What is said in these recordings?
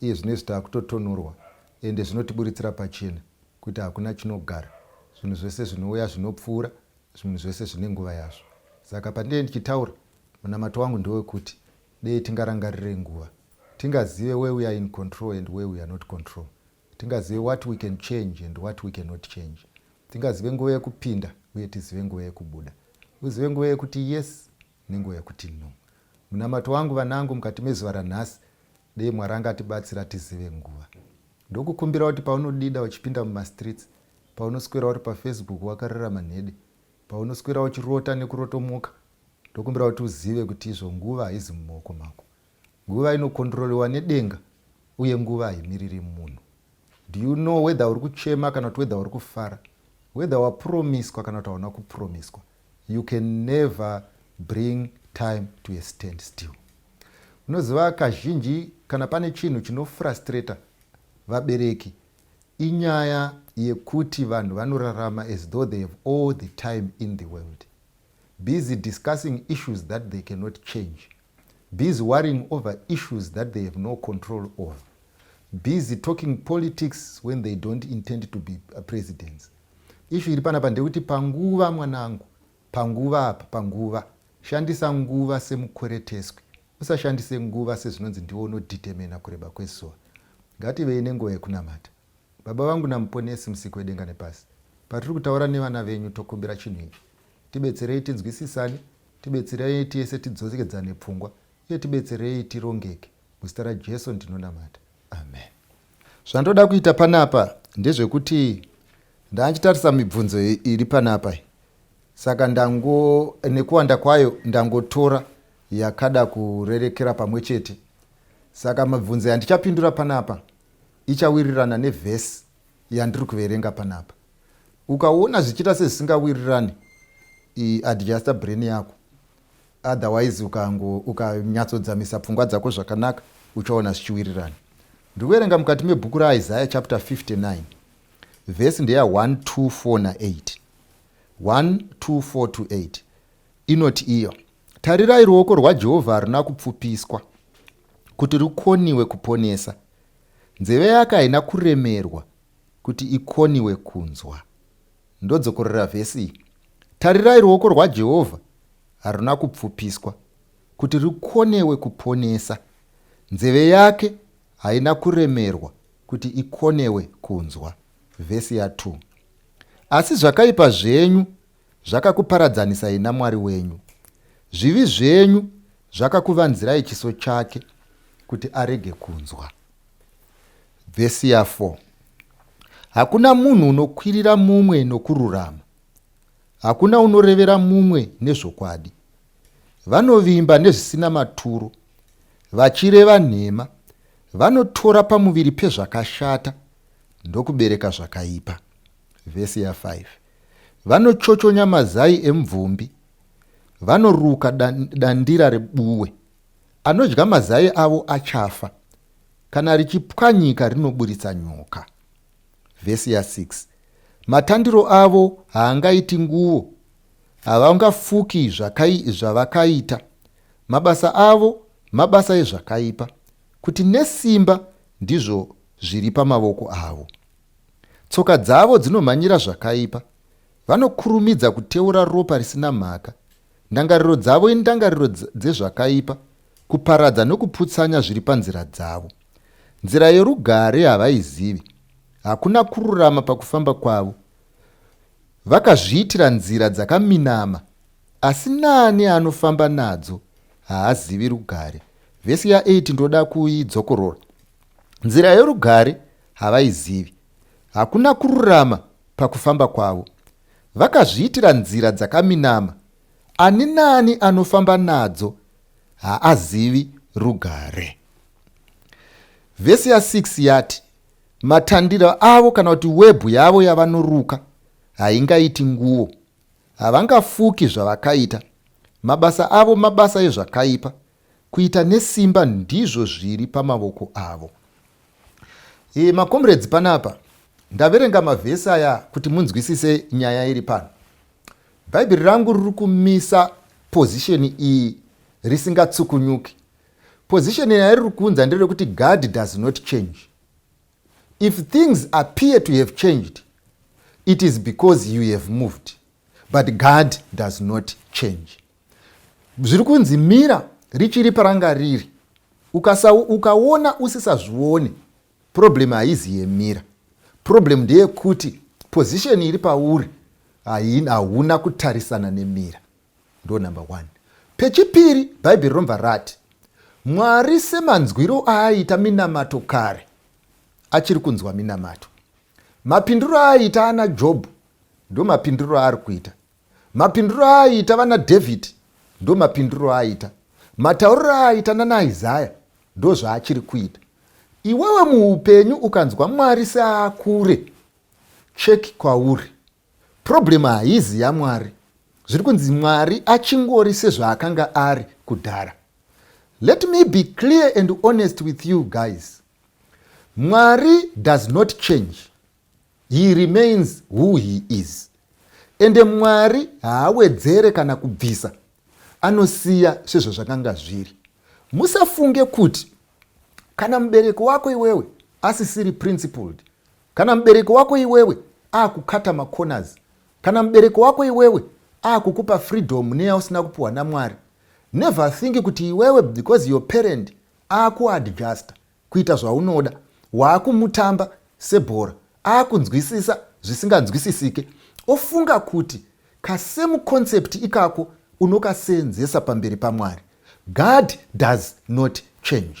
Iye zvinezvi takutotonhorwa ende zvinotiburitsira pachena kuti hakuna chinogara zvinhu zvese zvinouya zvinopfuura zvinhu zvese zvine nguva yazvo saka pandinenge ndichitaura munamato wangu ndewekuti dei tingarangarirei nguva tingazive where we are in control and where we are not control tingazive what we can change and what we cannot change tingazive nguva yekupinda uye tizive nguva yekubuda uzive nguva yekuti yes Nenguva yekuti no. Munamato wangu vanangu mukati mezuva ranhasi dei Mwari angatibatsira tizive nguva. Ndokukumbira kuti paunodida uchipinda mumastreets, paunoswera uri pafacebook wakarera manhede, paunoswera uchirota nekurotomoka, ndokumbira kuti uzive kuti izvo nguva haizi mumaoko mako. Nguva inokondrolewa nedenga uye nguva haimiriri munhu. Do you know whether uri kuchema kana kuti whether uri kufara? Whether wapuromiswa kana kuti hauna kupuromiswa? You can never bring time to a stand still. Unoziva kazhinji kana pane chinhu chinofrustrator vabereki inyaya yekuti vanhu vanorarama as though they have all the time in the world busy discussing issues that they cannot change busy worrying over issues that they have no control over busy talking politics when they don't intend to be uh, presidents ishu iri panapa ndekuti panguva mwanangu panguva apa panguva shandisa nguva semukwereteswi usashandise nguva sezvinonzi ndiwo unodetemena kureba kwezuva ngativei nenguva yekunamata Baba vangu naMuponesi Musiki wedenga nepasi, patiri kutaura nevana venyu tokumbira chinhu ichi. Tibetserei tinzwisisane, tibetserei tese tidzokedzane pfungwa uye tibetserei tirongeke. Muzita raJesu ndinonamata. Amen. Zvandoda kuita panapa ndezvekuti ndandichitarisa mibvunzo iri panapa iyi saka ndango nekuwanda kwayo ndangotora yakada kurerekera pamwe chete saka mibvunzo yandichapindura panapa ichawirirana nevhesi yandiri kuverenga panapa ukaona zvichiita sezvisingawirirani adjuster brain yako otherwise ukango ukanyatsodzamisa pfungwa dzako zvakanaka uchaona zvichiwirirana ndikuverenga mukati mebhuku raisaya chapter 59 vhesi ndeya 124 na8 124 to 8 inoti iyo tarirai ruoko rwajehovha harina kupfupiswa kuti rukoniwe kuponesa. Nzeve yake haina kuremerwa kuti ikoniwe kunzwa. Ndodzokorera vhesi iyi. Tarirai, ruoko rwaJehovha haruna kupfupiswa kuti rukonewe kuponesa. Nzeve yake haina kuremerwa kuti ikonewe kunzwa. Vhesi ya 2. Asi zvakaipa zvenyu Zvakakuparadzanisai naMwari wenyu. Zvivi zvenyu zvakakuvanzirai chiso chake kuti arege kunzwa. Vhesi ya 4 Hakuna munhu unokwirira mumwe nokururama, hakuna unorevera mumwe nezvokwadi. Vanovimba nezvisina maturo, vachireva nhema, vanotora pamuviri pezvakashata ndokubereka zvakaipa. Vhesi ya 5 vanochochonya mazai emvumbi vanoruka dandira rebuwe anodya mazai avo achafa kana richipwanyika rinoburitsa nyoka vhesi ya 6 matandiro avo haangaiti nguvo havangafuki zvavakaita mabasa avo mabasa ezvakaipa kuti nesimba ndizvo zviri pamavoko avo Tsoka dzavo dzinomhanyira zvakaipa. Vanokurumidza kuteura ropa risina mhaka. Ndangariro dzavo indangariro dzezvakaipa, kuparadza nokuputsanya zviri panzira dzavo. Nzira yorugare havaizivi. Hakuna kururama pakufamba kwavo. Vakazviitira nzira dzakaminama, asi naani anofamba nadzo haazivi rugare. Vhesi ya8 ndoda kuidzokorora. Nzira yorugare havaizivi. Hakuna kururama pakufamba kwavo. Vakazviitira nzira dzakaminama. Ani naani anofamba nadzo haazivi rugare. Vhesi ya 6 yati, Matandiro avo kana kuti webhu yavo yavanoruka haingaiti nguo. Havangafuki zvavakaita. Mabasa avo mabasa ezvakaipa. Kuita nesimba ndizvo zviri pamavoko avo. E, makomredzi panapa ndaverenga mavhesi aya kuti munzwisise nyaya iri pano. Bhaibheri rangu riri kumisa pozisheni iyi risingatsukunyuki. Pozisheni yariri kunza nderekuti God does not change. If things appear to have changed, it is because you have moved, but God does not change. zviri kunzi mira richiri paranga riri ukasa ukaona usisazvione problem haizi yemira problem ndeyekuti position iri pauri hauna kutarisana nemira ndo number one pechipiri bhaibheri romva rati mwari semanzwiro aaita minamato kare achiri kunzwa minamato mapindiro aaita ana jobho ndo mapindiro aari kuita Mapinduro aaiita vana Dhavhidhi ndo mapinduro aaita. Matauriro aaita nana Isaya ndo zvaachiri kuita. Iwewe muupenyu ukanzwa Mwari seaakure, check kwauri. Problem haizi yaMwari. Zviri kunzi Mwari achingori sezvaakanga ari kudhara. Let me be clear and honest with you guys. Mwari does not change. He remains who he is ende Mwari haawedzere kana kubvisa anosiya sezvazvakanga zviri. Musafunge kuti kana mubereki wako iwewe asisiri principled, kana mubereki wako iwewe akukata macorners, kana mubereki wako iwewe akukupa freedom neyausina kupiwa naMwari, never think kuti iwewe because your parent akuadjusta kuita zvaunoda waakumutamba sebhora aakunzwisisa zvisinganzwisisike ofunga kuti kasame concept ikako unokaseenzesa pamberi pamwari god does not change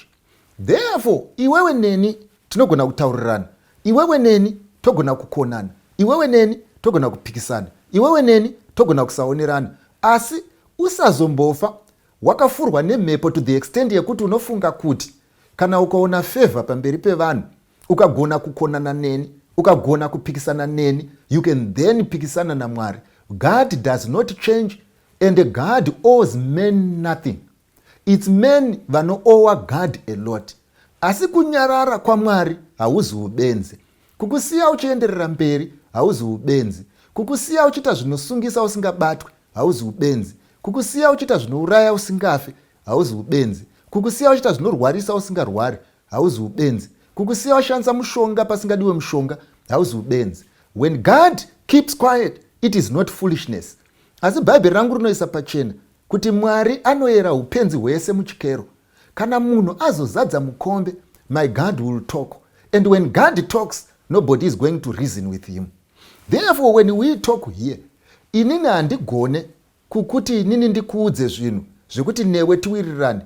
therefore iwewe neni tinogona kutaurirana iwewe neni togona kukonana iwewe neni togona kupikisana iwewe neni togona kusaonerana asi usazombofa Wakafurwa nemhepo to the extend yekuti unofunga kuti kana ukaona favour pamberi pevanhu, ukagona kukonana neni, ukagona kupikisana neni, you can then pikisana naMwari. God does not change and God owes men nothing. Its men vanoowa God a lot. Asi kunyarara kwaMwari hauzi ubenzi. Kukusiya uchienderera mberi hauzi ubenzi. Kukusiya uchiita zvinosungisa usingabatwe hauzi ubenzi kukusiya uchiita zvinouraya usingafi hauzi ubenzi kukusiya uchiita zvinorwarisa usingarwari hauzi ubenzi kukusiya washandisa mushonga pasingadiwe mushonga hauzi ubenzi when god keeps quiet it is not foolishness asi bhaibheri rangu rinoisa pachena kuti mwari anoyera upenzi hwese muchikero kana munhu azozadza mukombe my god will talk and when god talks nobody is going to reason with him Therefore when we talk here inini handigone kukuti inini ndikuudze zvinhu zvekuti newe tiwirirane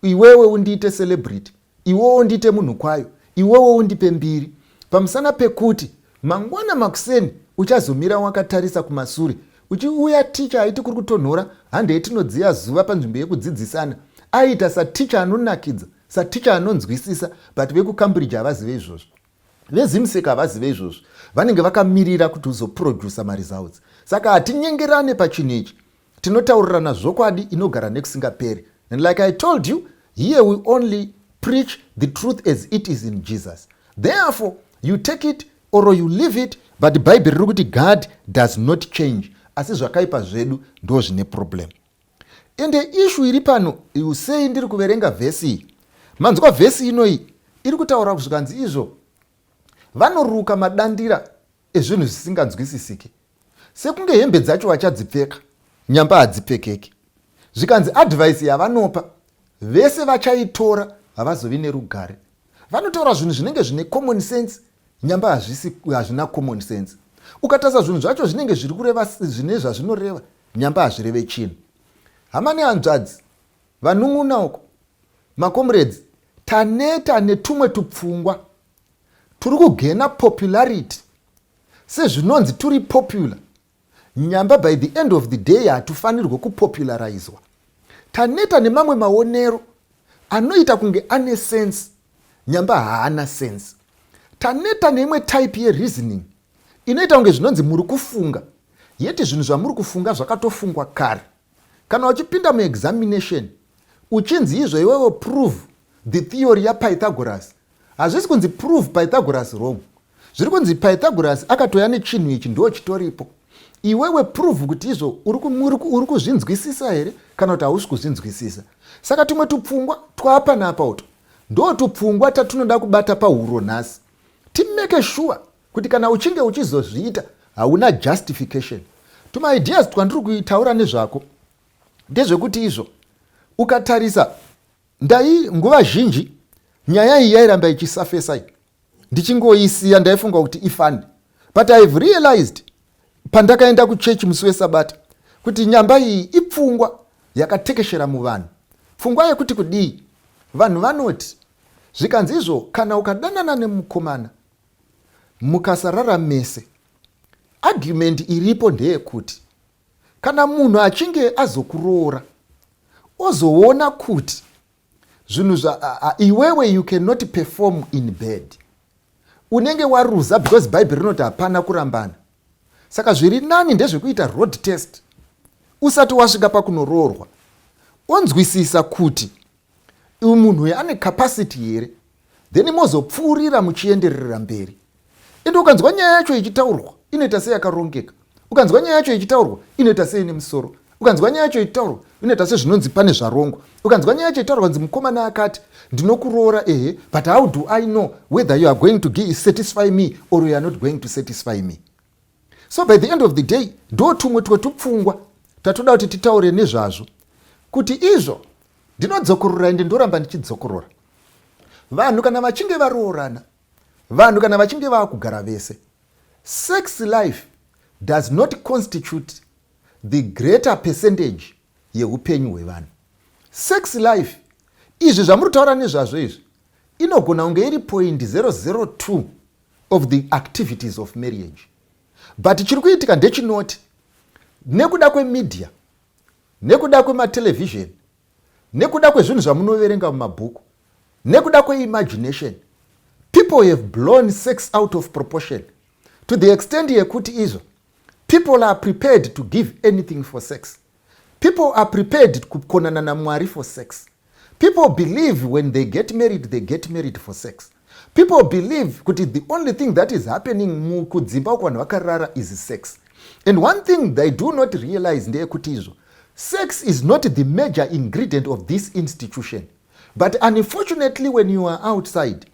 iwewe undiite celebrity iwewe undiite munhu kwayo iwewe undipe mbiri pamusana pekuti mangwana makuseni uchazomira wakatarisa kumasure uchiuya ticha aiti kuri kutonhora hande yetinodziya zuva panzvimbo yekudzidzisana aiita saticha anonakidza saticha anonzwisisa but vekucambridge havazive izvozvo Vezimsec havazive izvozvi vanenge vakamirira kuti uzoproducer maresults saka hatinyengerane pachinhu ichi tinotaurirana zvokwadi inogara nekusingaperi and like i told you here we only preach the truth as it is in jesus therefore you take it or you leave it but bhaibheri riri kuti god does not change asi zvakaipa zvedu ndo zvine problem Ende issue iri pano you say ndiri kuverenga vhesi iyi. Manzwa vhesi inoyi iri kutaura zvikanzi izvo vanoruka madandira ezvinhu zvisinganzwisisike. Sekunge hembe dzacho vachadzipfeka nyamba hadzipfekeki. Zvikanzi advice yavanopa vese vachaitora havazovi nerugare. Vanotaura zvinhu zvinenge zvine common sense nyamba hazvisi hazvina common sense. Ukatarisa zvinhu zvacho zvinenge zviri kureva zvine zvazvinoreva nyamba hazvireve chinhu. Hama nehanzvadzi vanun'una uko makomuredzi taneta netumwe tupfungwa turi kugena popularity sezvinonzi turi popular Nyamba by the end of the day hatufanirwe kupopularizewa. Taneta nemamwe maonero anoita kunge ane sense nyamba haana sense. Taneta neimwe type yereasoning inoita kunge zvinonzi muri kufunga yet zvinhu zvamuri kufunga zvakatofungwa kare. Kana uchipinda muexamination uchinzi izvo iwewe prove the theory yapythagoras hazvisi kunzi prove pythagoras wrong zviri kunzi pythagoras akatouya nechinhu ichi ndo chitoripo iwewe prove kuti izvo uri kuzvinzwisisa here kana kuti hausi kuzvinzwisisa saka tumwe tupfungwa twapanapa uto ndo tupfungwa tatunoda kubata pahuro nhasi timake sure Kuti kana uchinge uchizozviita hauna justification. Tuma ideas twandiri kutaura nezvako ndezvekuti izvo ukatarisa ndai nguva zhinji nyaya iyi yairamba ichisafesa iyi ndichingoisiya ndaifunga kuti ifani but i have realized pandakaenda kuchechi musi wesabata kuti nyamba iyi ipfungwa yakatekeshera muvanhu pfungwa yekuti kudii vanhu vanoti zvikanzi izvo kana ukadanana nemukomana Mukasarara mese. Argument iripo ndeyekuti kana munhu achinge azokuroora ozoona kuti zvinhu zva iwewe you cannot perform in bed unenge waruza because bhaibheri rinoti hapana kurambana saka zviri nani ndezvekuita road test usati wasvika pakunoroorwa onzwisisa kuti Uyu munhu uyu ane capacity here? Then mozopfuurira muchienderera mberi. Ende ukanzwa nyaya yacho ichitaurwa inoita seyakarongeka. Ukanzwa nyaya yacho ichitaurwa inoita seine musoro. Ukanzwa nyaya yacho ichitaurwa inoita sezvinonzi pane zvarongwa. Ukanzwa nyaya yacho ichitaurwa nzi mukomana akati ndinokuroora ehe but how do I know whether you are going to satisfy me or you are not going to satisfy me? so by the end of the day ndo tumwe twetupfungwa tatoda kuti titaure nezvazvo kuti izvo ndinodzokorora ende ndoramba ndichidzokorora vanhu kana vachinge varoorana vanhu kana vachinge vava kugara vese sex life does not constitute the greater percentage yeupenyu hwevanhu sex life izvi zvamuri kutaura nezvazvo izvi inogona kunge iri point 002 of the activities of marriage but chiri kuitika ndechinoti nekuda kwemedia nekuda kwematelevision nekuda kwezvinhu zvamunoverenga mumabhuku nekuda kweimagination people have blown sex out of proportion to the extent yekuti izvo People are prepared to give anything for sex. People are prepared kukonana naMwari for sex. People believe when they get married, they get married for sex. People believe kuti the only thing that is happening mukudzimba uko vanhu vakarara is sex. And one thing they do not realize ndeyekuti izvo sex is not the major ingredient of this institution. But unfortunately when you are outside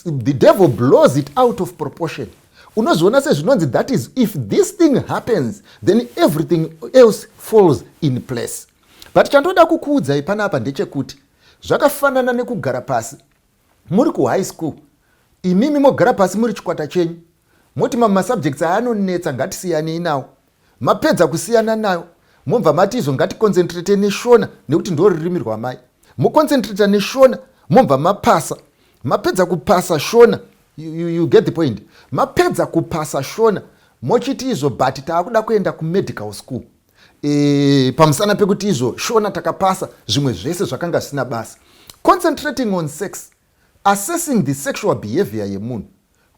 the devil blows it out of proportion unozviona sezvinonzi that is if this thing happens then everything else falls in place but chandoda kukuudzai panapa ndechekuti zvakafanana nekugara pasi muri kuhigh school imimi mogara pasi muri chikwata chenyu moti mamwe masubjects aya anonetsa ngatisiyanei nawo mapedza kusiyana nayo mobva mati izvo ngaticoncentrate neshona nekuti ndo rurimi rwamai moconcentrata neshona mobva mapasa mapedza kupasa shona you, you, you get the point mapedza kupasa shona mochiti izvo but taakuda kuenda kumedical school e, pamusana pekuti izvo shona takapasa zvimwe zvese zvakanga zvisina basa concentrating on sex Assessing the sexual behavior yemunhu.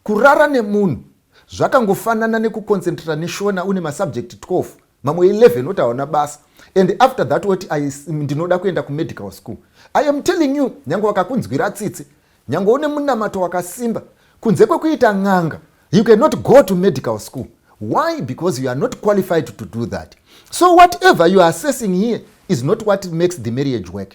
Kurara nemunhu zvakangofanana nekuconcentrata neshona une masubject 12 mamwe 11 oti haona basa and after that woti ndinoda kuenda kumedical school i am telling you nyange wakakunzwira tsitsi nyange une munamato wakasimba kunze kwekuita n'anga you cannot go to medical school why because you are not qualified to do that so whatever you are assessing here is not what makes the marriage work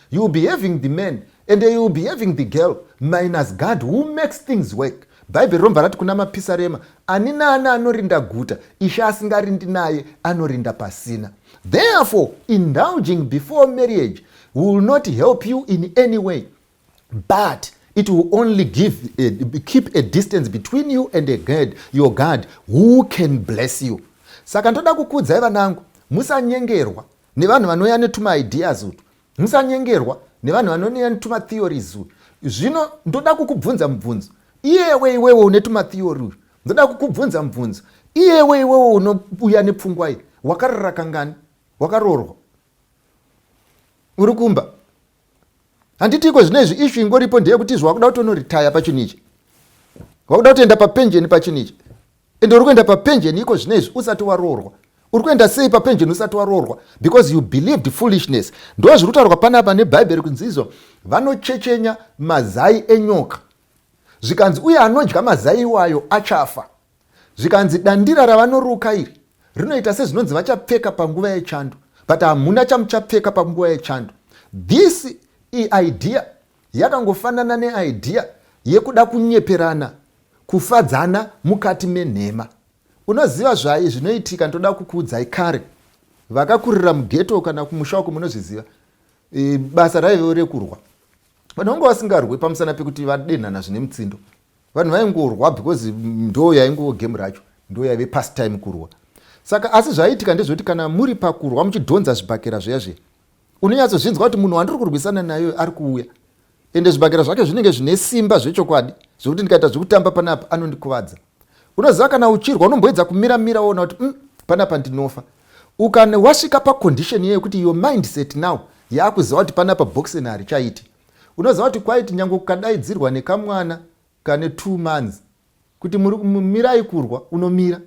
You will be having the man and you will be having the girl minus God who makes things work. Bhaibheri romva rati kuna mapisarema, ani naani anorinda guta, ishe asingarindi naye anorinda pasina. Therefore, indulging before marriage will not help you in any way, but it will only give a, eh, keep a distance between you and a God, your God who can bless you. Saka ndoda kukudzai vanangu, musanyengerwa nevanhu vanouya netuma ideas utu musanyengerwa nevanhu vanouya netuma theories uyu zvino ndoda kukubvunza mubvunzo iyewe iwewe une tuma theory uyu ndoda kukubvunza mubvunzo iyewe iwewe unouya nepfungwa iyi wakarora kangani wakaroorwa uri kumba handitiko zvino izvi ishu ingoripo ndeyekuti izvi wakuda kutonoritaya pachinhu ichi wakuda kutoenda papenjeni pachinhu ichi ende uri kuenda papenjeni iko zvino izvi usati waroorwa uri kuenda sei papenjeni usati waroorwa because you believed foolishness ndo zviri kutaurwa panapa nebhaibheri kunzi izvo vanochechenya mazai enyoka zvikanzi uye anodya mazai iwayo achafa Zvikanzi dandira ravanoruka iri rinoita sezvinonzi vachapfeka panguva yechando but hamuna chamuchapfeka panguva yechando. This iidea yakangofanana neidea yekuda kunyeperana kufadzana mukati menhema. Unoziva zvayi zvinoitika ndoda kukuudzai kare vakakurira mugeto kana kumusha uko munozviziva e, basa raivewo rekurwa vanhu vanga vasingarwe pamusana pekuti vadenhana zvine mutsindo vanhu vaingorwa because ndo yaingo game racho ndo yaive past time kurwa saka asi zvaiitika ndezvekuti kana muri pakurwa muchidhonza zvibhakera zviya zviya unonyatsozvinzwa kuti munhu wandiri kurwisana nayo ari kuuya ende zvibhakera zvake zvinenge zvine simba zvechokwadi zvekuti ndikaita zvekutamba panapa anondikuvadza unoziva kana uchirwa unomboedza kumira mira woona kuti mm, panapa ndinofa ukane wasvika paconditioni yekuti your mindset now yaakuziva kuti panapa boxen harichaiti unoziva kuti kwaiti nyange kukadaidzirwa nekamwana kane two months kuti mirai kurwa unomira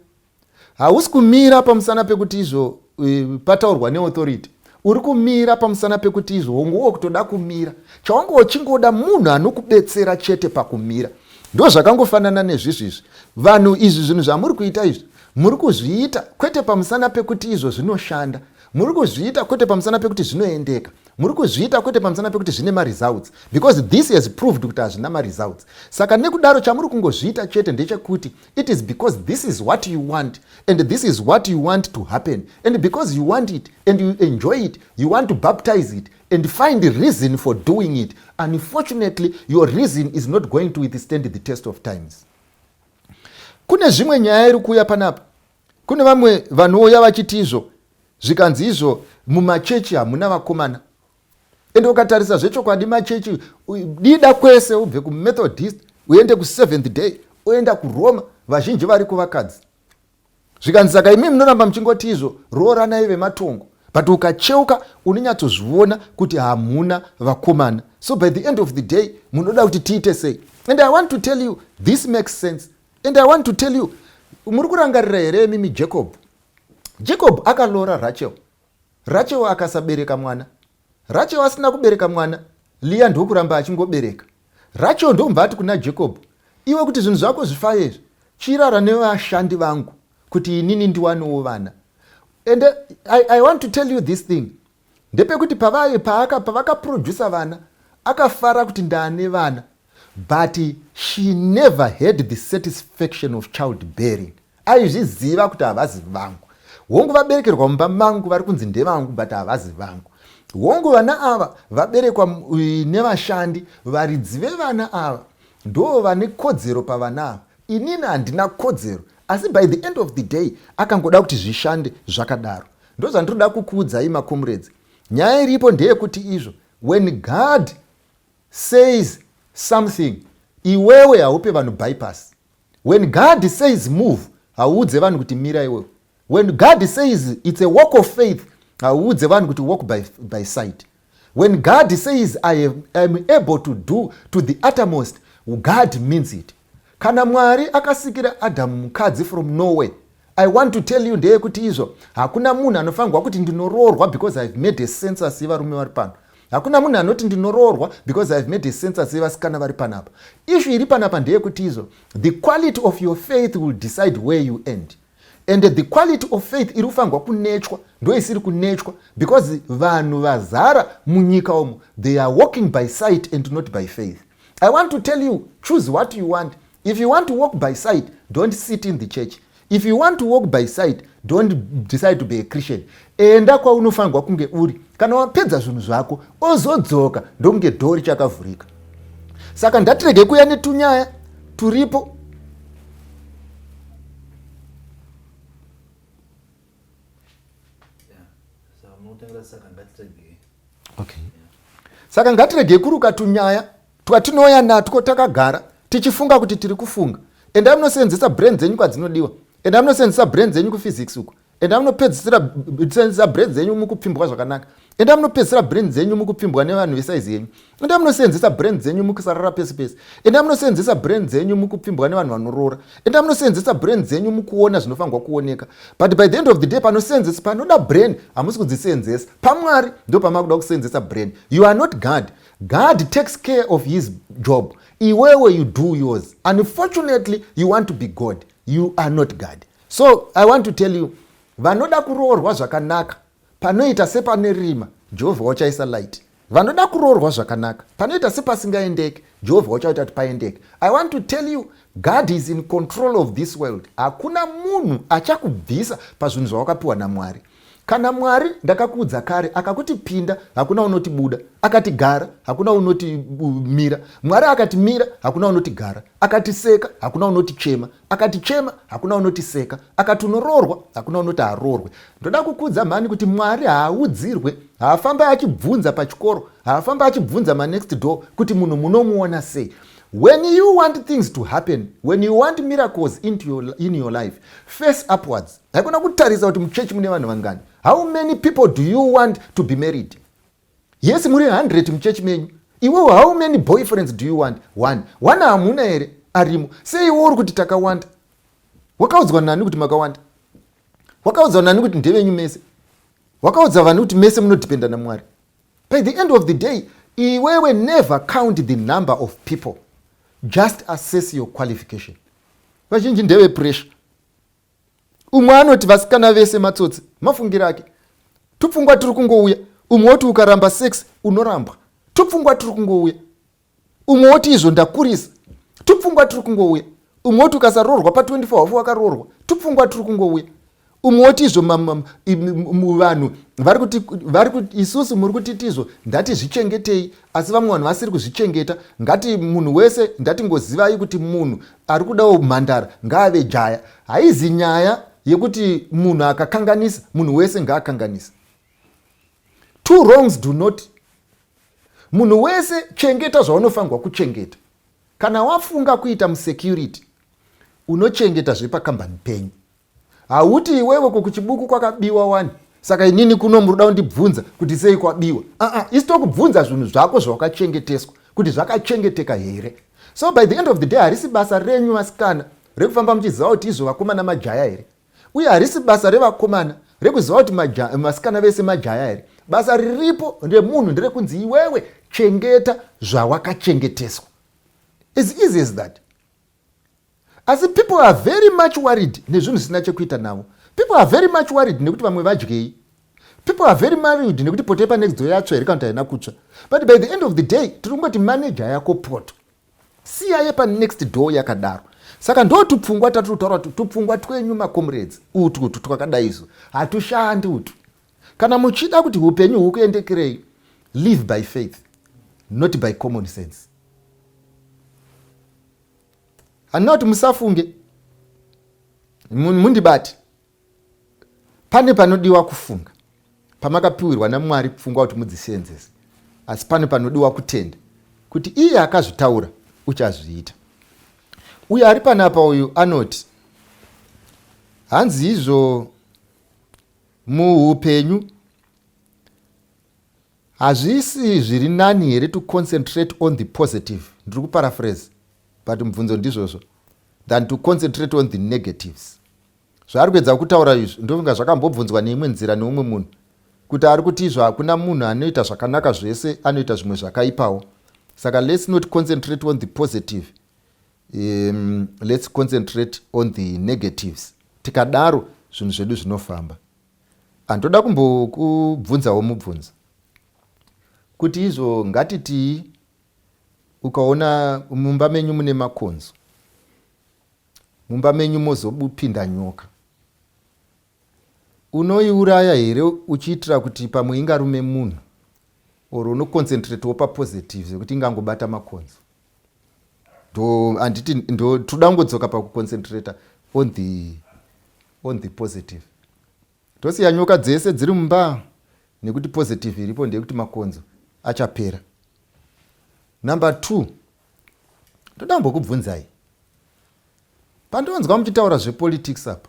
hausi kumira pamusana pekuti izvo e, pataurwa neauthority uri kumira pamusana pekuti izvo hongu wo kutoda kumira chawanga uchingoda munhu anokubetsera chete pakumira ndo zvakangofanana nezvizvizvi vanhu izvi zvinhu zvamuri kuita izvi muri kuzviita kwete pamusana pekuti izvo zvinoshanda muri kuzviita kwete pamusana pekuti zvinoendeka muri kuzviita kwete pamusana pekuti zvine maresults because this has proved kuti hazvina maresults saka nekudaro chamuri kungozviita chete ndechekuti it is because this is what you want and this is what you want to happen and because you want it and you enjoy it you want to baptize it and find the reason for doing it unfortunately your reason is not going to withstand the test of times kune zvimwe nyaya iri kuuya panapa Kune vamwe vanouya vachiti izvo zvikanzi izvo mumachechi hamuna vakomana ende ukatarisa zvechokwadi machechi dida kwese ubve kumethodist uende kuseventh day oenda kuroma vazhinji variko vakadzi zvikanzi saka imi munoramba muchingoti izvo rooranai vematongo but ukacheuka unonyatsozviona kuti hamuna vakomana so by the end of the day munoda kuti tiite sei and i want to tell you this makes sense And I want to tell you, muri kurangarira here mimi Jacob? Jacob akalora Rachel. Rachel akasabereka mwana. Rachel asina kubereka mwana. Leah ndokuramba achingobereka. Rachel ndomva ati kuna Jacob, iwe kuti zvinhu zvako zvifaye izvi, chirara nevashandi vangu kuti inini ndiwanewo vana. And I, I want to tell you this thing. Ndepekuti pavaye paaka pavaka producer vana akafara kuti ndane vana but she never had the satisfaction of child bearing aizviziva kuti havazi vangu hongu vaberekerwa mumba mangu vari kunzi ndevangu but havazi vangu hongu vana ava vaberekwa nevashandi varidzi vevana ava ndoo vane kodzero pavana ava inini handina kodzero asi by the end of the day akangoda kuti zvishande zvakadaro Ndozvandinoda kukuudzai makomrades. Nyaya iripo ndeyekuti izvo when God says something iwewe haupe vanhu bypass. When God says move hauudze vanhu kuti mira iwewe. When God says it's a walk of faith hauudze vanhu kuti walk by, by sight. When God says I am, I am able to do to the uttermost, God means it. Kana Mwari akasikira Adamu mukadzi from nowhere, I want to tell you ndeyekuti izvo hakuna munhu anofanirwa kuti ndinoroorwa because I've made a census yevarume vari pano. Hakuna munhu anoti ndinoroorwa because I've made a census yevasikana vari panapa. Ishu iri panapa ndeyekuti izvo the quality of your faith will decide where you end. And the quality of faith iri kufanirwa kunetshwa ndoisiri kunetshwa because vanhu vazara munyika umu they are walking by sight and not by faith i want to tell you choose what you want if you want to walk by sight don't sit in the church if you want to walk by sight don't decide to be a christian Enda kwaunofanirwa kunge uri kana wapedza zvinhu zvako ozodzoka ndokunge dhoo richakavhurika. Saka ndatirege kuya netunyaya turipo okay. saka ngatiregei kuruka tunyaya twatinouya natwo takagara tichifunga kuti tiri kufunga endai munosenzesa brain dzenyu kwadzinodiwa endai munosenzesa brain dzenyu kuphysics uko enda munopedzisira senzisa brain dzenyu mukupfimbwa zvakanaka enda munopedzisira brain dzenyu mukupfimbwa nevanhu vesaizi yenyu enda munosenzesa brain dzenyu mukusarara pese pese enda munosenzesa brain dzenyu mukupfimbwa nevanhu vanoroora enda munosenzesa brain dzenyu mukuona zvinofanirwa kuoneka but by the end of the day panosenzesa panoda brain hamusi kudzisenzesa pamwari ndo pamakuda kusenzesa brain you are not god god takes care of his job iwewe you do yours unfortunately you want to be god you are not god so i want to tell you vanoda kuroorwa zvakanaka panoita sepane rima jehovha wachaisa light vanoda kuroorwa zvakanaka panoita sepasingaendeke jehovha wachaita kuti paendeke i want to tell you god is in control of this world hakuna munhu achakubvisa pazvinhu zvawakapiwa namwari kana mwari ndakakuudza kare akakuti pinda hakuna unoti buda akati gara hakuna unoti mira mwari akati mira hakuna unoti gara akati seka hakuna unoti chema akatichema hakuna unotiseka akati unoroorwa hakuna unoti haroorwe ndoda kukuudza mhani kuti mwari haaudzirwe haafambe achibvunza pachikoro haafambe achibvunza manext door kuti munhu munomuona sei when you want things to happen when you want miracles into your, in your life face upwards haikona kutarisa kuti muchechi mune vanhu vangani how many people do you want to be married Yes muri 100 muchechi menyu. Iwewo how many boyfriends do you want? One. One hamuna here arimo. Sei iwe uri kuti takawanda? Wakaudzwa nani kuti makawanda? Wakaudzwa nani kuti ndevenyu mese? Wakaudza vanhu kuti mese munodependa naMwari. By the end of the day, iwewe never count the number of people. Just assess your qualification. Vazhinji ndeve pressure. umwe anoti vasikana vese matsotsi mafungiro ake tupfungwa tiri kungouya umwe woti ukaramba sex unorambwa tupfungwa tiri kungouya umwe woti izvo ndakurisa tupfungwa tiri kungouya umwe woti ukasaroorwa pa 24 hafu wakaroorwa tupfungwa tiri kungouya umwe woti izvo vanhu vari kuti vari kuti isusu muri kutiti izvo ndatizvichengetei asi vamwe vanhu vasiri kuzvichengeta ngati munhu wese ndatingozivai kuti munhu Ari kudawo humhandara ngaave jaya. Haizi nyaya yekuti munhu akakanganisa munhu wese ngaakanganisa. Two wrongs do not munhu wese chengeta zvaunofanirwa kuchengeta kana wafunga kuita musecurity unochengeta zvepakambani penyu hauti iwewe ko kuchibuku kwakabiwa wani saka inini kuno muri kuda kundibvunza kuti sei kwabiwa aa isi tokubvunza zvinhu zvako zvawakachengeteswa kuti zvakachengeteka here so by the end of the day harisi basa renyu vasikana rekufamba muchiziva kuti izvo vakomana majaya here uye harisi basa revakomana rekuziva kuti vasikana vese majaya here basa riripo remunhu nderekunzi iwewe chengeta zvawakachengeteswa as easy as that asi people are very much worried nezvinhu zvisina chekuita navo people are very much worried nekuti vamwe vadyei people are very married nekuti poto yepanext door yatsva here kana kuti haina kutsva but by the end of the day tiri kungoti manager yako poto siya yepanext door yakadaro saka ndo tupfungwa tatiri kutaura kuti tupfungwa twenyu makomrades utu utu twakadaizo hatushandi utu kana muchida kuti upenyu hukuendekerei live by faith not by common sense handina kuti musafunge mundibati pane panodiwa kufunga pamakapiwirwa namwari pfungwa kuti mudziseenzese asi pane panodiwa kutenda kuti iye akazvitaura uchazviita uye ari panapa uyu anoti hanzi izvo muupenyu Hazvisi zviri nani here to concentrate on the positive, ndiri kuparaphrase but mubvunzo ndizvozvo, than to concentrate on the negatives? Zvaari kuedza kutaura izvi ndofunga zvakambobvunzwa neimwe nzira neumwe munhu kuti ari kuti izvo hakuna munhu anoita zvakanaka zvese anoita zvimwe zvakaipawo saka let's not concentrate on the positive um, let's concentrate on the negatives tikadaro zvinhu zvedu zvinofamba Ah, ndoda kumbokubvunzawo mubvunzo kuti izvo ngatitii ukaona mumba menyu mune makonzo mumba menyu mozopinda nyoka unoiuraya here uchiitira kuti pamwe ingarume munhu or unoconcentrateo papositive zvekuti ingangobata makonzo ndo handiti ndo toda kungodzoka pakuconcentrator on the on the positive tosiya nyoka dzese dziri mumba nekuti positive iripo ndeyekuti makonzo achapera number two toda kumbokubvunzai pandonzwa muchitaura zvepolitics apa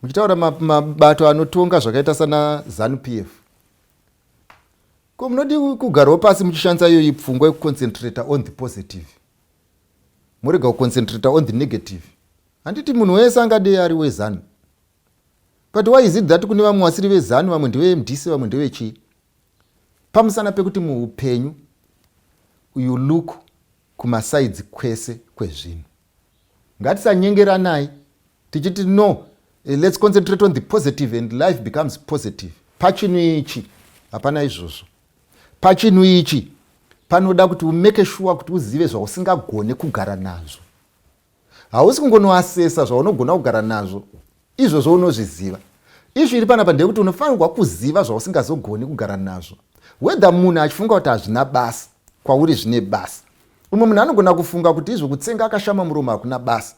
muchitaura mabato anotonga zvakaita sana zanup f ko munodi kugarawo pasi muchishandisa iyoyi pfungwa yekuconcentrata on the positive morega kuconcentrata on the negative handiti munhu wese angadei ari wezanu but why is it that kune vamwe vasiri vezanu vamwe ndevemdc vamwe ndevechii pamusana pekuti muupenyu you look kumasaidzi kwese kwezvinhu Ngatisanyengeranai tichiti no eh, let's concentrate on the positive and life becomes positive. Pachinhu ichi hapana izvozvo. Pachinhu ichi panoda kuti umeke shuwa kuti uzive zvausingagone kugara nazvo. Hausi kungonoasesa zvaunogona kugara nazvo Izvozvo unozviziva. Ishu iri panapa ndeyekuti unofanirwa kuziva zvausingazogoni kugara nazvo. Whether munhu achifunga kuti hazvina basa, kwauri zvine basa. Umwe munhu anogona kufunga kuti izvo kutsenga akashama muromo hakuna basa.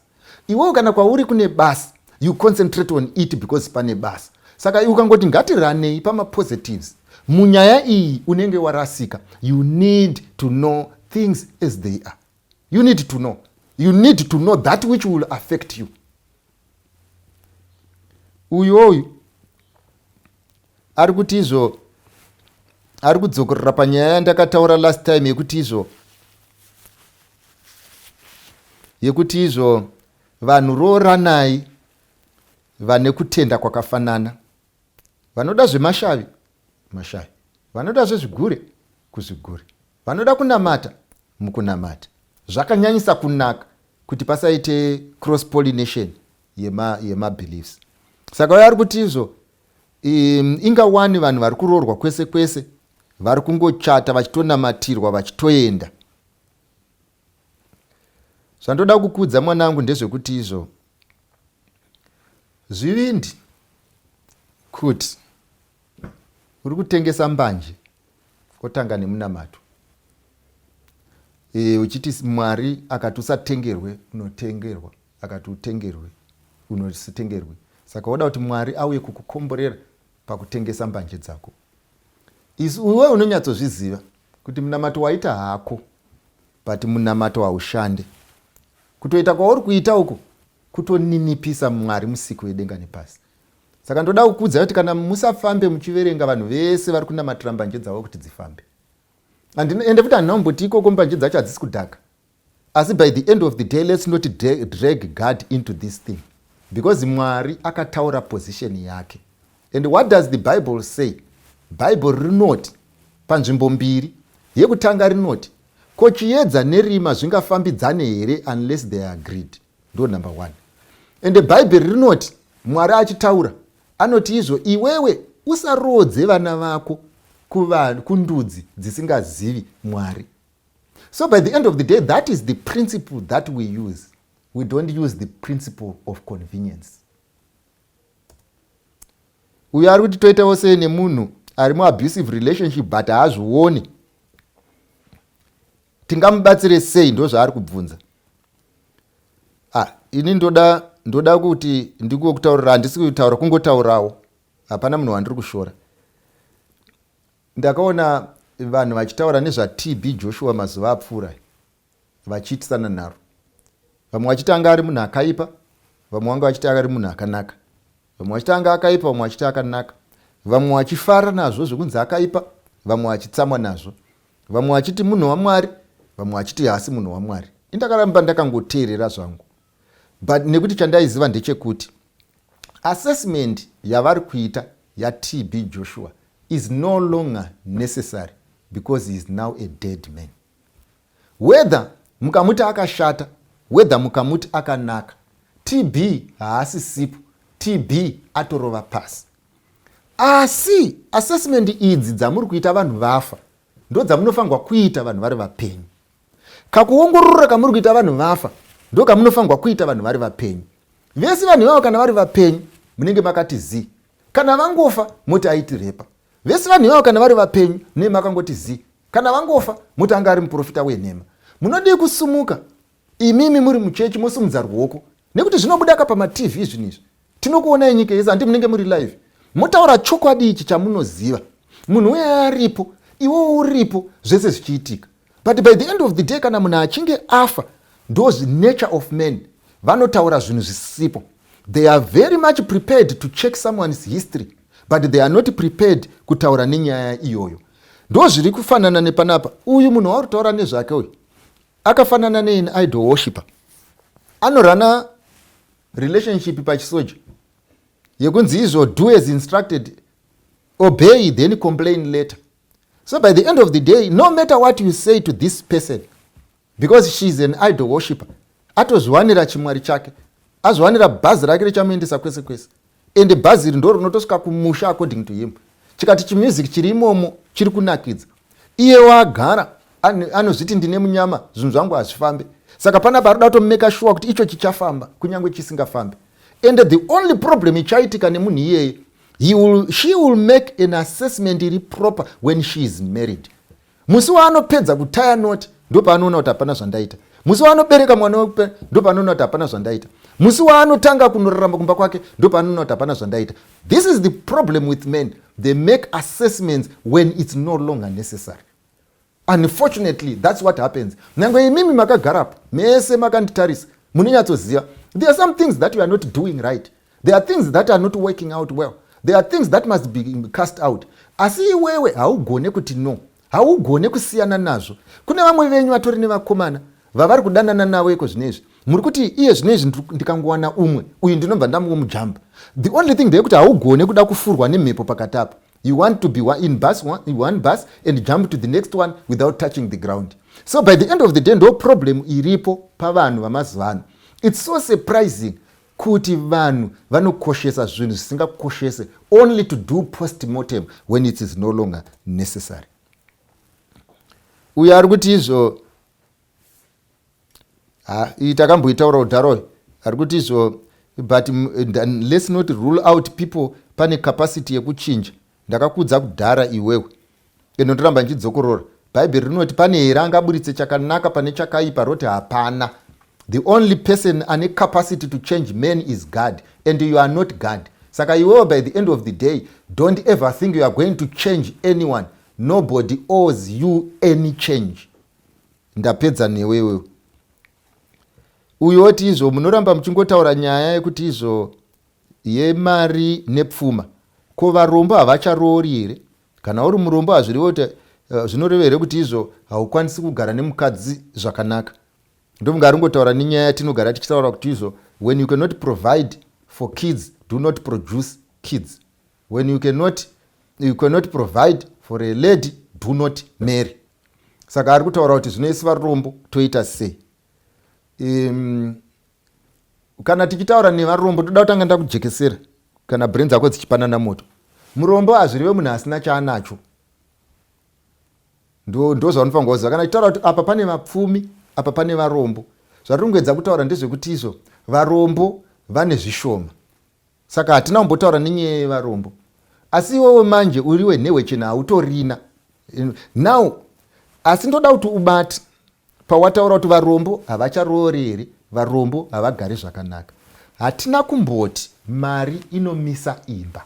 Iwewo kana kwauri kune basa, you concentrate on it because pane basa. Saka iwe ukangoti ngatiranei pamapositives, munyaya iyi unenge warasika. You need to know things as they are. you need to know you need to know that which will affect you uyu oyu ari kuti izvo ari kudzokorora panyaya yandakataura last time yekuti izvo yekuti izvo vanhu rooranai vane kutenda kwakafanana vanoda zvemashavi mashavi vanoda zvezvigure kuzvigure Vanoda kunamata mukunamata. Zvakanyanyisa kunaka kuti pasaite cross pollination yema yema beliefs. Saka uyo ari kuti izvo um, inga wani vanhu vari kuroorwa kwese kwese vari kungochata vachitonamatirwa vachitoenda zvandoda kukudza mwanangu ndezvekuti izvo zvivindi kuti uri kutengesa mbanje otanga nemunamato e, uchiti mwari akati usatengerwe unotengerwa akati utengerwe unotengerwe saka woda kuti mwari auye kukukomborera pakutengesa mbanje dzako isu iwe unonyatsozviziva kuti munamato waita hako but munamato haushande kutoita kwauri kuita uko kutoninipisa mwari musiki wedenga nepasi saka ndoda kukuudzai kuti kana musafambe muchiverenga vanhu vese vari kunamatira mbanje dzavo kuti dzifambe ende futi handina kumboti ikoko mbanje dzacho hadzisi kudhaka asi by the end of the day let's not drag god into this thing because mwari akataura position yake and what does the bible say bible rinoti panzvimbo mbiri yekutanga rinoti ko chiyedza nerima zvingafambidzane here unless they are agreed ndo number one ende bhaibheri rinoti mwari achitaura anoti izvo iwewe usaroodze vana vako kuvanhu kundudzi dzisingazivi mwari so by the end of the day that is the principle that we use we don't use the principle of convenience uyo ari kuti toitawo sei nemunhu ari muabusive relationship but haazvioni tingamubatsire sei ndozvaari kubvunza ah, ini ndoda ndoda kuti ndikuwe kutaurira handisi kutaura kungotaurawo hapana munhu wandiri kushora ndakaona vanhu vachitaura nezvatb joshua mazuva apfuura vachiitisana nharo vamwe vachitanga ari munhu akaipa vamwe vanga vachitanga ari munhu akanaka Vamwe vachiti anga akaipa, vamwe vachiti akanaka, vamwe vachifara nazvo zvekunzi akaipa, vamwe vachitsamwa nazvo, vamwe vachiti munhu waMwari, vamwe vachiti haasi munhu waMwari. Indakaramba ndakangoteerera zvangu, but nekuti chandaiziva ndechekuti assessment yavari kuita yaTB Joshua is no longer necessary because he is now a dead man. whether mukamuti akashata whether mukamuti akanaka tb haasi sipo tb atorova pasi asi assessment idzi dzamuri kuita vanhu vafa ndo dzamunofanirwa kuita vanhu vari vapenyu kakuongorora kamuri kuita vanhu vafa ndo kamunofanirwa kuita vanhu vari vapenyu vese vanhu ivavo kana vari vapenyu munenge makati zii kana vangofa moti aitirepa vese vanhu ivavo kana vari vapenyu nei makangoti zii kana vangofa moti anga ari muprofita wenhema munodii kusumuka imimi muri muchechi mosumudza ruoko nekuti zvinobuda ka pamatv izvinhu izvi tinokuonai nyika yese handi munenge muri live motaura chokwadi ichi chamunoziva munhu uye aripo iwo uripo zvese zvichiitika but by the end of the day kana munhu achinge afa those nature of men vanotaura zvinhu zvisipo they are very much prepared to check someone's history but they are not prepared kutaura nenyaya iyoyo ndo zviri kufanana nepanapa uyu munhu wauri kutaura nezvake uyu akafanana nein idol worshiper anorana relationship pachisoja yekunzi izvo do as instructed obey then complain later so by the end of the day no matter what you say to this person because she is an idol worshipper atozviwanira chimwari chake azviwanira bhazi rake richamuendesa kwese kwese ende bhazi iri ndo rinotosvika kumusha according to him chikati chimusic chiri imomo chiri kunakidza iye waagara anozviti ndine munyama zvinhu zvangu hazvifambe saka panapa ari kuda kutomeka shuwa kuti icho chichafamba kunyange chisingafambe ende the only problem ichaitika nemunhu iyeye He will, she will make an assessment iri proper when she is married musi waanopedza kutaya noti ndopaanoona kuti hapana zvandaita musi waanobereka mwana wekupe ndopaanoona kuti hapana zvandaita musi waanotanga kunorarama kumba kwake ndopaanoona kuti hapana zvandaita this is the problem with men they make assessments when its no longer necessary Unfortunately that's what happens. Nyangwe imimi makagarapo mese makanditarisa munonyatsoziva there are some things that you are not doing right. There are things that are not working out well. There are things that must be cast out. Asi iwewe haugone kuti no. Haugone kusiyana nazvo. Kune vamwe venyu vatori nevakomana vavari kudanana navo iko zvino izvi muri kuti iye zvino izvi ndikangowana umwe uyu ndinobva ndamuwo mujamba the only thing ndeyekuti haugone kuda kufurwa nemhepo pakati apo You want to be in bus one, one bus and jump to the next one without touching the ground. So by the end of the day ndo problem iripo pavanhu vamazuva ano. It's so surprising kuti vanhu vanokoshesa zvinhu zvisingakoshese only to do postmortem when it is no longer necessary. Uyo ari kuti izvo ha iyi takamboitaura kudhara uyu ari kuti izvo but let's not rule out people pane capacity yekuchinja ndakakudza kudhara iwewe ende ndoramba ndichidzokorora bhaibheri rinoti pane here angaburitse chakanaka pane chakaipa roti hapana the only person ane capacity to change man is god and you are not god saka iwewe by the end of the day don't ever think you are going to change anyone nobody owes you any change ndapedza newe iwewe uyu oti izvo munoramba muchingotaura nyaya yekuti izvo yemari nepfuma ko varombo havacharoori here kana uri murombo hazvirevo kuti eh, zvinoreva here kuti izvo haukwanisi kugara nemukadzi zvakanaka ndomunga aringotaura nenyaya yatinogara tichitaura kuti izvo when you cannot provide for kids do not produce kids When you cannot, you cannot provide for a lady do not marry. Saka ari kutaura kuti zvino isi varombo toita sei? Um, kana tichitaura nevarombo toda kutanga ndakujekesera kana brain dzako dzichipanana moto. Murombo hazvireve munhu asina chaanacho. Ndo ndo zvaunofanira kuziva kana tichitaura kuti apa pane vapfumi, apa pane varombo. Zvatirikuedza kutaura ndezvekuti izvo varombo vane zvishoma. Saka hatina kumbotaura nenyaya yevarombo. Asi iwewe manje uri wenhewe chena hautorina. Now asi ndoda kuti ubate pawataura kuti varombo havacharoori here varombo havagari zvakanaka. Hatina kumboti mari inomisa imba.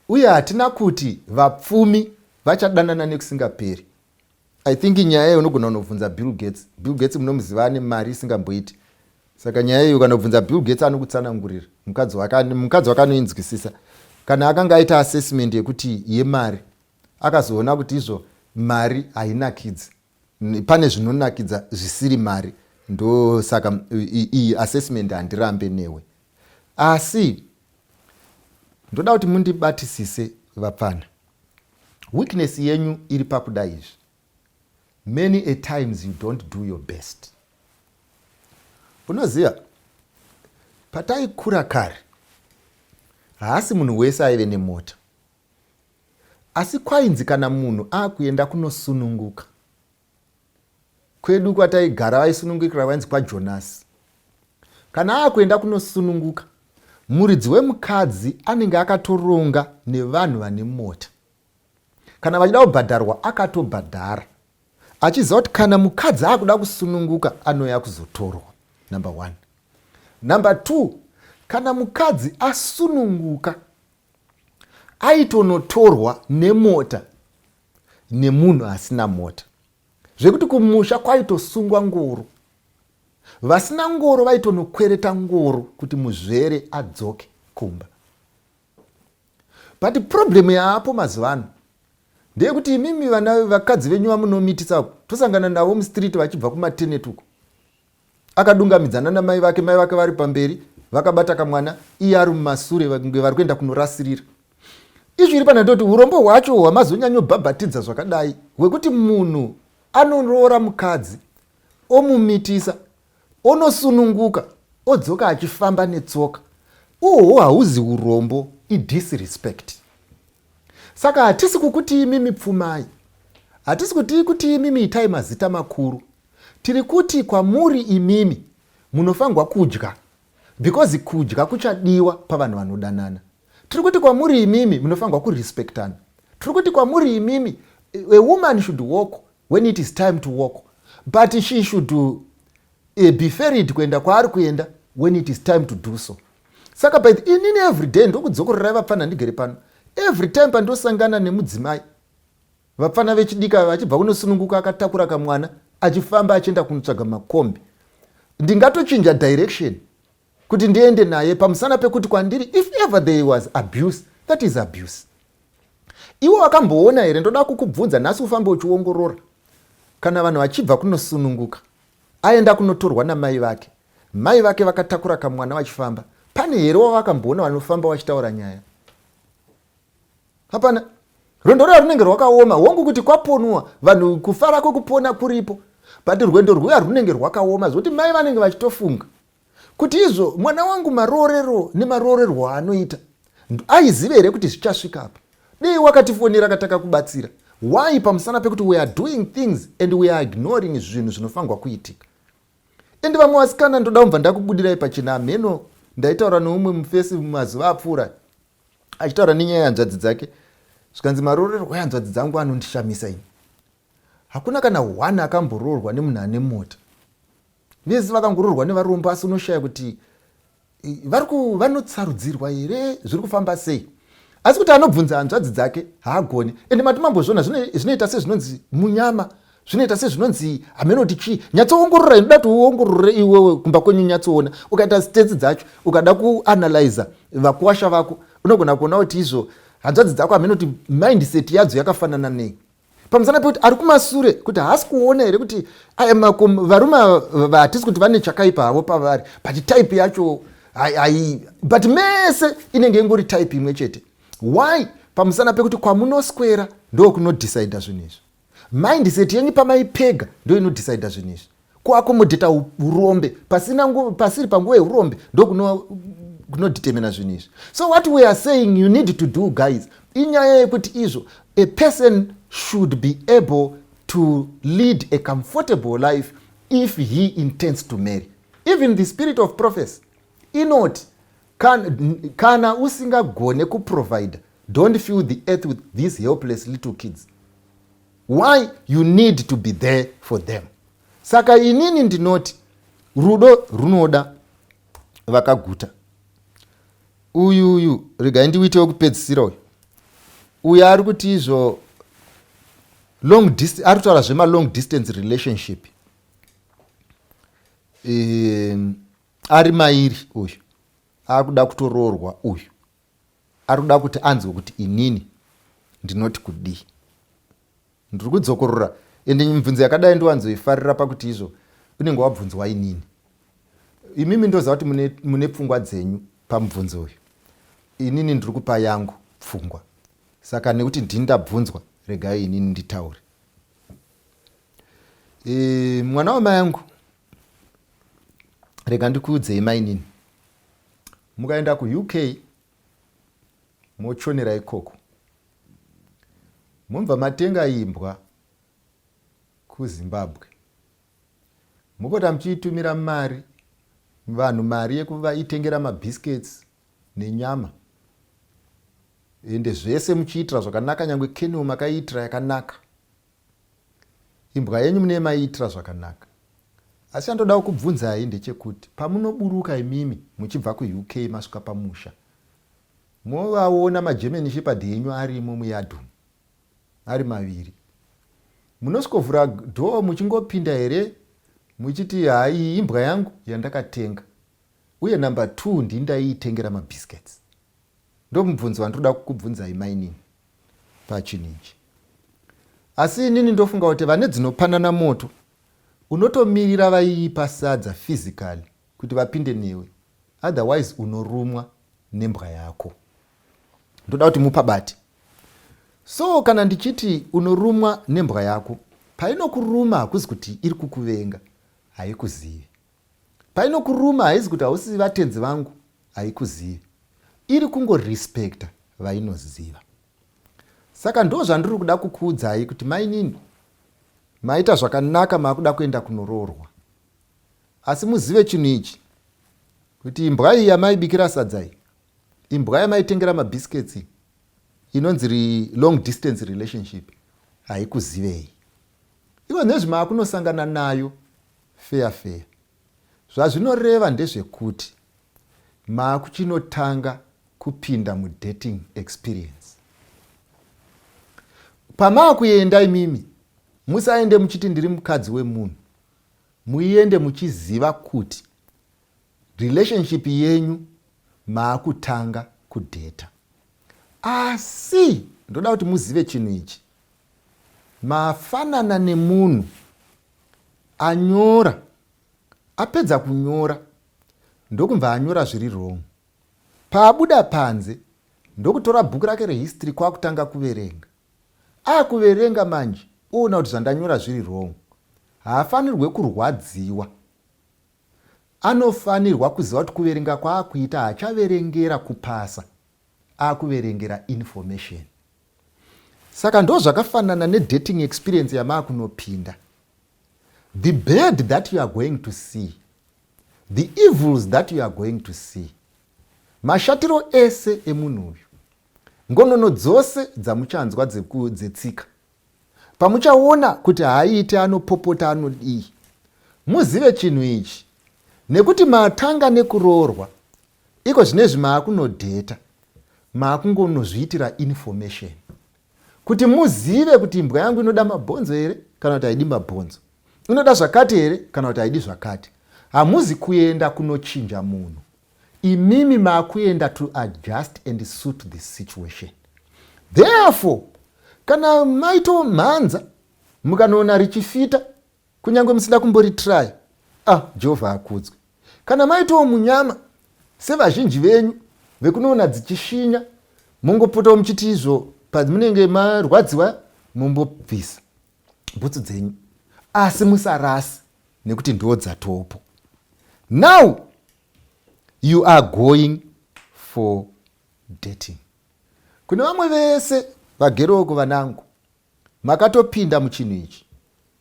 Uye hatina kuti vapfumi vachadanana nekusingaperi. I think nyaya iyo unogona kunobvunza Bill Gates. Bill Gates munomuziva ane mari isingamboiti. Saka nyaya iyo ukanobvunza Bill Gates anokutsanangurira. Mukadzi wake mukadzi wake anoinzwisisa. Kana akanga aita assessment yekuti yemari akazoona kuti izvo mari hainakidzi. Pane zvinonakidza zvisiri mari. Ndosaka iyi assessment handirambe newe. Asi ndoda kuti mundibatisise vapfana. Weakness yenyu iri pakuda izvi. Many a times you don't do your best. Unoziva pataikura kare haasi munhu wese aive nemota asi kwainzi kana munhu akuenda kunosununguka kwedu kwataigara vaisunungukira vainzi kwajonasi kana akuenda kunosununguka muridzi wemukadzi anenge akatoronga nevanhu vane mota kana vachida kubhadharwa akatobhadhara achiziva kuti kana mukadzi akuda kusununguka anouya kuzotorwa number one number two kana mukadzi asununguka aitonotorwa nemota nemunhu asina mota zvekuti kumusha kwaitosungwa ngoro vasina ngoro vaitonokwereta ngoro kuti muzvere adzoke kumba but problem yaapo mazuva ano ndeyekuti imimi vana vakadzi venyu vamunomitisa tosangana navo mustreet vachibva kumatenet uko akadungamidzana namai vake mai vake vari pamberi vakabata kamwana iye ari mumasure vange vari kuenda kunorasirira izvi iri pana ndoti urombo hwacho hwamazonyanyobhabhatidza zvakadai hwekuti munhu anoroora mukadzi omumitisa onosununguka odzoka achifamba netsoka uhwo hauzi urombo idisrespect saka hatisi kukutii mimi pfumai hatisi kutii kutii mimi itai mazita makuru Tiri kuti kwamuri imimi munofanirwa kudya because kudya kuchadiwa pavanhu vanodanana. Tiri kuti kwamuri imimi munofanirwa kurespectana. Tiri kuti kwamuri imimi a woman should walk when it is time to walk but she should eh, be ferried kuenda kwaari kuenda when it is time to do so. Saka by the inini every day ndokudzokorerai vapfanha ndigere pano every time pandosangana nemudzimai Vapfana vechidiki ava vachibva kunosununguka akatakura kamwana achifamba achienda kunotsvaga makombi. Ndingatochinja direction kuti ndiende naye pamusana pekuti kwandiri if ever there was abuse that is abuse. Iwo wakamboona here ndoda kukubvunza nhasi ufambe uchiongorora kana vanhu vachibva kunosununguka aenda kunotorwa namai vake mai vake vakatakura kamwana vachifamba pane here wavakamboona vanofamba vachitaura nyaya hapana rwendo rwuya runenge rwakaoma hongu kuti kwaponwa vanhu kufara kwekupona kuripo but rwendo rwuya runenge rwakaoma zvokuti mai vanenge vachitofunga kuti izvo mwana wangu maroorero nemaroorerwo aanoita aizive here kuti zvichasvika apa dei wakatifonera katakakubatsira why pamusana pekuti we are doing things and we are ignoring zvinhu zvinofanirwa kuitika and vamwe vasikana ndoda kumbva ndakubudirai pachena hameno ndaitaura neumwe mufesi mumazuva apfuura achitaura nenyaya yehanzvadzi dzake zvikanzi maroorerwo ehanzvadzi dzangu anondishamisa ini hakuna kana one akamboroorwa nemunhu ane mota vese vakangoroorwa nevarombo asi unoshaya kuti vanotsarudzirwa here zviri kufamba sei asi kuti anobvunza hanzvadzi dzake haagone ende mati mambozviona zvinoita sezvinonzi munyama zvinoita sezvinonzi hameno kuti chii nyatsoongorora inoda kuti uongorore iwewe kumba kwenyu nyatsoona ukaita stats dzacho ukada kuanalyza vakuwasha vako unogona kuona kuti izvo hanzvadzi dzako hameno kuti mindset yadzo yakafanana nei pamusana pekuti ari kumasure kuti haasi kuona here kuti varume hatisi kuti vane chakaipa havo pavari but type yacho hai but mese inenge ingori type imwe chete why pamusana pekuti kwamunoswera ndokunodecida zvinhu izvi Mindset yenyu pamai pega ndo inodecida zvinhu izvi kuakomodheta urombe pasina pasiri panguva yeurombe ndokunodetemina zvinhu izvi so what we are saying you need to do guys inyaya yekuti izvo a person should be able to lead a comfortable life if he intends to marry even the spirit of prophecy inoti Kana, kana usingagone kuprovide don't fill the earth with these helpless little kids why you need to be there for them saka inini ndinoti rudo runoda vakaguta uyu uyu regai ndiuite wekupedzisira uyu uyu ari kuti izvo long distance ari kutaura zvema long distance relationship um, Ari mairi uyu akuda kutoroorwa uyu ari kuda kuti anzwe kuti inini ndinoti kudii ndiri kudzokorora ende mibvunzo yakadai ndiwanzoifarira pakuti izvo unenge wabvunzwa inini imimi ndoziva kuti mune, mune pfungwa dzenyu pamubvunzo uyu inini ndiri kupa yangu pfungwa saka nekuti ndini ndabvunzwa regai inini nditaure e, mwana wamai yangu rega ndikuudzei mainini mukaenda kuuk mochonera ikoko mobva matenga imbwa kuzimbabwe mopota muchiitumira mari vanhu mari yekuvaitengera mabiscuits nenyama ende zvese muchiitira zvakanaka nyange kenio makaiitira yakanaka Imbwa yenyu mune maiitira zvakanaka. Asi chandodawo kubvunzai ndechekuti pamunoburuka imimi muchibva kuUK masvika pamusha movaona maGerman Shepherd enyu arimo muyard umu ari maviri. Munosvikovhura door muchingopinda here muchiti haa iyi imbwa yangu yandakatenga uye number two ndini ndaiitengera mabiscuits. Ndomubvunzo wandinoda kukubvunzai mainini pachinhu ichi. Asi inini ndofunga kuti vane dzinopanana moto unotomirira vaiipa sadza physically kuti vapinde newe otherwise unorumwa nembwa yako. Ndoda kuti mupabati. So kana ndichiti unorumwa nembwa yako painokuruma hakuzi kuti iri kukuvenga haikuzivi. Painokuruma haizi kuti hausi vatenzi vangu haikuzivi. Iri kungo respecta vainoziva. Saka ndo zvandiri kuda kukuudzai kuti mainini maita zvakanaka makuda kuenda kunoroorwa. Asi muzive chinhu ichi kuti imbwa iyi yamaibikira sadza iyi imbwa yamaitengera mabiscuits inonzi long distance relationship haikuzivei. Ivo nezvi makunosangana nayo Feya feya. Zvazvinoreva ndezvekuti maakuchinotanga kupinda mudating experience. Pamaakuenda imimi musaende muchiti ndiri mukadzi wemunhu. Muiende muchiziva kuti relationship yenyu maakutanga kudheta asi ndoda kuti muzive chinhu ichi mafanana nemunhu Anyora apedza kunyora ndokubva anyora zviri wrong. Paabuda panze ndokutora bhuku rake rehistory kwakutanga kuverenga. Akuverenga manje oona kuti zvandanyora zviri wrong. Haafanirwe kurwadziwa. Anofanirwa kuziva kuti kuverenga kwaakuita haachaverengera kupasa akuverengera information saka ndo zvakafanana nedating experience yamaakunopinda the bad that you are going to see the evils that you are going to see mashatiro ese emunhu uyu ngonono dzose dzamuchanzwa dzetsika pamuchaona kuti haaite anopopota anodii muzive chinhu ichi nekuti matanga nekuroorwa Iko zvinezvi maakunodheta maakungonozviitira information kuti muzive kuti imbwa yangu inoda mabhonzo here kana kuti haidi mabhonzo inoda zvakati here kana kuti haidi zvakati hamuzi kuenda kunochinja munhu imimi maakuenda to adjust and suit the situation therefore kana maitomhanza mukanoona richifita Kunyange musida kumbori try. Ah, Jehovha akudzwe. Kana maitowo munyama sevazhinji venyu vekunoona dzichishinya mongopotawo muchiti izvo pamunenge marwadziwa mombobvisa bhutsu dzenyu asi musarasi nekuti ndiwo dzatopo now you are going for dating kune vamwe vese vageroko vanangu Makatopinda muchinhu ichi.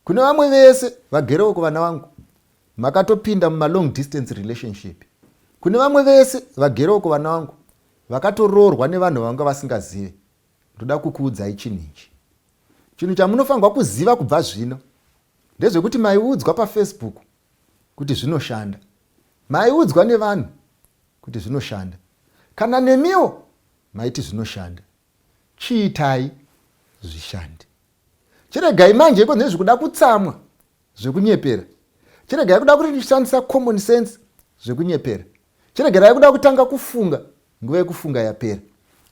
Kune vamwe vese vagerewo kuvana vangu. Makatopinda muma long distance relationship. Kune vamwe vese vagerewo kuvana vangu vakatoroorwa nevanhu vavanga vasingazive. Ndoda kukuudzai chinhu ichi. Chinhu chamunofanirwa kuziva kubva zvino ndezvekuti maiudzwa pafacebook kuti zvinoshanda. Maiudzwa nevanhu kuti zvinoshanda. Kana nemiwo maiti zvinoshanda. Chiitai zvishande. Chiregai manje iko nezvi kuda kutsamwa zvekunyepera. Chiregai kuda kuti ndishandisa common sense zvekunyepera. Chiregerai kuda kutanga kufunga nguva yekufunga yapera.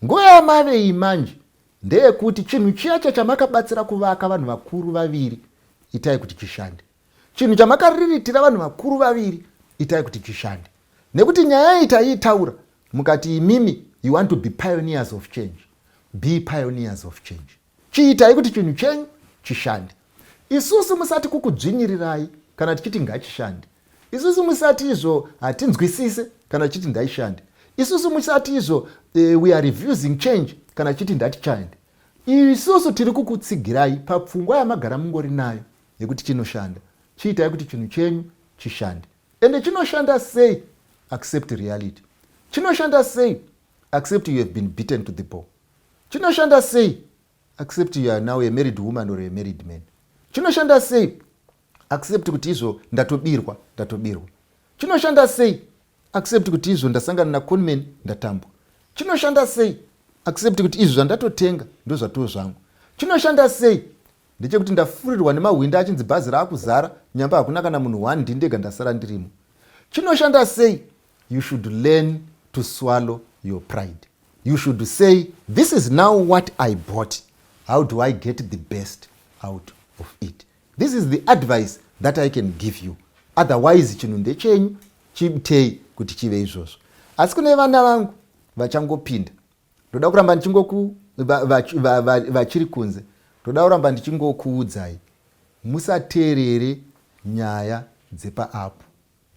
Nguva yamavei manje ndeyekuti chinhu chiya chachamakabatsira kuvaka vanhu vakuru vaviri itai kuti chishande. Chinhu chamakariritira vanhu vakuru vaviri itai kuti chishande. Nekuti nyaya iyi taiitaura mukati imimi you want to be pioneers of change. Be pioneers of change. Chiitai kuti chinhu chenyu chishande. Isusu musati kukudzvinyirirai kana tichiti ngachishande. Isusu musati izvo hatinzwisise kana tichiti ndaishande. Isusu musati izvo uh, we are refusing change kana tichiti ndatichande. Isusu tiri kukutsigirai papfungwa yamagara mungori nayo nekuti chinoshanda chiitai kuti chinhu chenyu chishande ende chinoshanda sei accept reality chinoshanda sei accept you have been beaten to the ball chinoshanda sei accept you are now a married woman or a married man chinoshanda sei accept kuti izvo ndatobirwa ndatobirwa chinoshanda sei accept kuti izvo ndasangana naconman ndatambwa chinoshanda sei accept kuti izvi zvandatotenga ndozvatoo zvangu chinoshanda sei Ndechekuti ndafurirwa nemahwindi achinzi bhazi raakuzara nyamba hakuna kana munhu one ndindega ndasara ndirimo. Chinoshanda sei? You should learn to swallow your pride. You should say this is now what I bought. How do I get the best out of it? This is the advice that I can give you. Otherwise chinhu ndechenyu chibtei kuti chive izvozvo. Asi kune vana vangu vachangopinda ndoda kuramba ndichingoku vachiri kunze ndoda kuramba ndichingokuudzai musateerere nyaya dzepaapu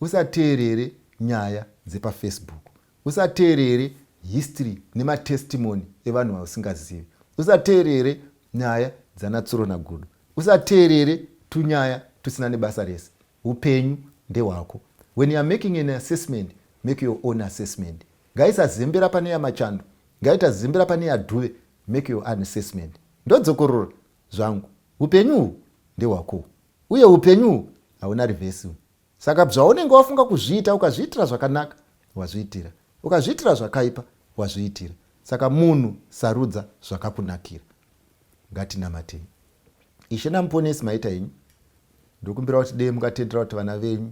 usateerere nyaya dzepafacebook usateerere history nematestimony evanhu vausingazivi usateerere nyaya dzanatsuro nagudo usateerere tunyaya tusina nebasa rese upenyu ndehwako when youare making an assessment make your own assessment Ngaisazembera pane ya Machando, ngaitazembera pane ya Dube, make your own assessment. Ndodzokorora zvangu, upenyu uhu ndehwako uye upenyu uhu hauna reverse. Saka bzvaunenge wafunga kuzviita, ukazviitira zvakanaka wazviitira, ukazviitira zvakaipa wazviitira. Saka munhu sarudza zvakakunakira. Ngatinamatei. Ishe naMuponesi maita henyu. Ndokumbira kuti dei mukatendera kuti vana venyu